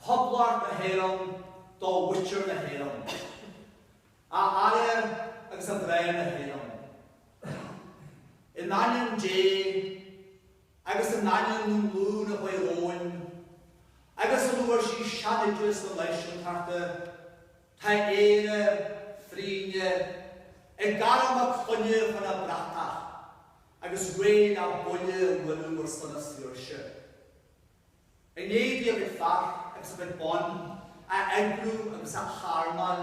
Poblacht na hÉireann do mhuintir na hÉireann, a fheara agus a mhná na hÉireann. In ainm Dé agus in ainm na nglún a ghabh romhainn agus óna bhfuair sí seanoideas na náisiúntachta, tá Éire, frínne, ag gairm a clainne chun a bratach agus réidh le buille a bhualadh ar son a saoirse. I ndiaidh di a cuid fear agus a cuid ban a eagrú agus a harmáil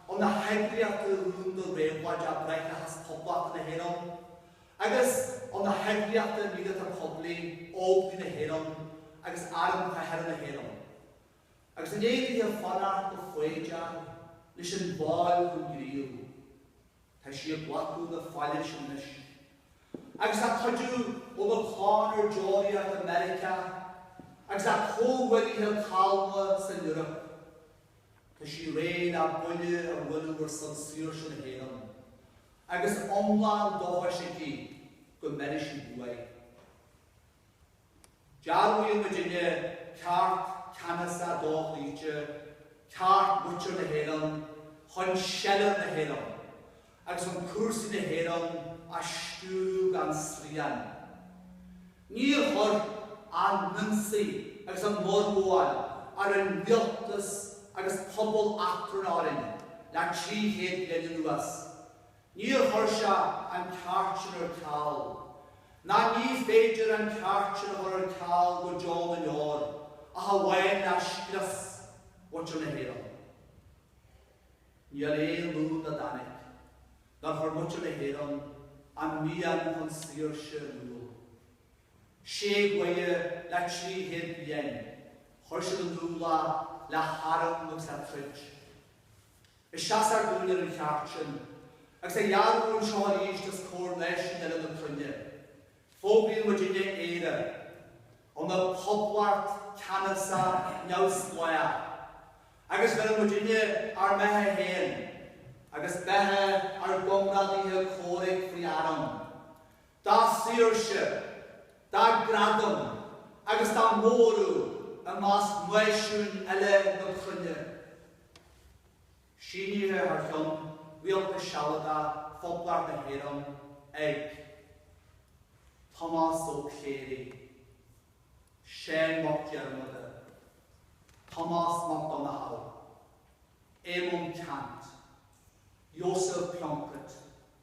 óna heagraíochtaí rúnda réabhlóideacha Bráithreachas Poblachta na hÉireann agus óna heagraíochtaí míleata poiblí Óglaigh na hÉireann agus Arm Cathartha na hÉireann agus i ndiaidh di fanacht go foighdeach leis an bhfaill chun gníomh. Tá sí ag glacadh na faille sin anois, agus a cuidiú óna clann ar deoraíocht i Meiriceá agus a comhghuaillithe calma san Eoraip, tá sí réidh le buille a bhualadh ar son saoirse na hÉireann, agus iomlán dóchais aici go mbéarfaidh sí buaidh. Dearbhaíonn muid inniu ceart ceannasach dochloíte, ceart muintir na hÉireann chun seilbh na hÉireann agus chun cúrsaí na hÉireann a stiúradh gan srian. Níor chuir an t-ionsaí agus an fhorghabháil a rinne rialtas agus pobal eachtrann orainn le trí chéad bliain anuas. Níor chuir sé an ceart sin ar ceal, ná ní féidir an ceart sin a chur ar ceal go deo na ndeor, ach amháin le scrios mhuintir na hÉireann. Níl aon ghlúin dá dtáinig, nár chuir muintir na hÉireann an mian chun saoirse in iúl. Sé ghaoth le trí chéad bliain, chuir siad in iúl é le harm agus le troid. Is seasamh dúinn ar an cheart sin, agus á dhearbhú anseo arís os comhair náisiúin eile na cruinne. Fógraíonn muid inniu Éire, ina poblacht ceannasach neamhspleách, agus bheireann muid inniu ár mbeatha féin agus beatha ár gcomrádaithe comhraic faoi arm, dá saoirse, dá gradam agus dá móradh i measc náisiúin eile na cruinne. Síníodh é thar cheann Rialtas Sealadach Phoblacht na hÉireann ag, Tomás Ó Cléirigh, Seán Mac Diarmada, Tomás Mac Donnchadha, Éamonn Ceannt, Joseph Plunkett,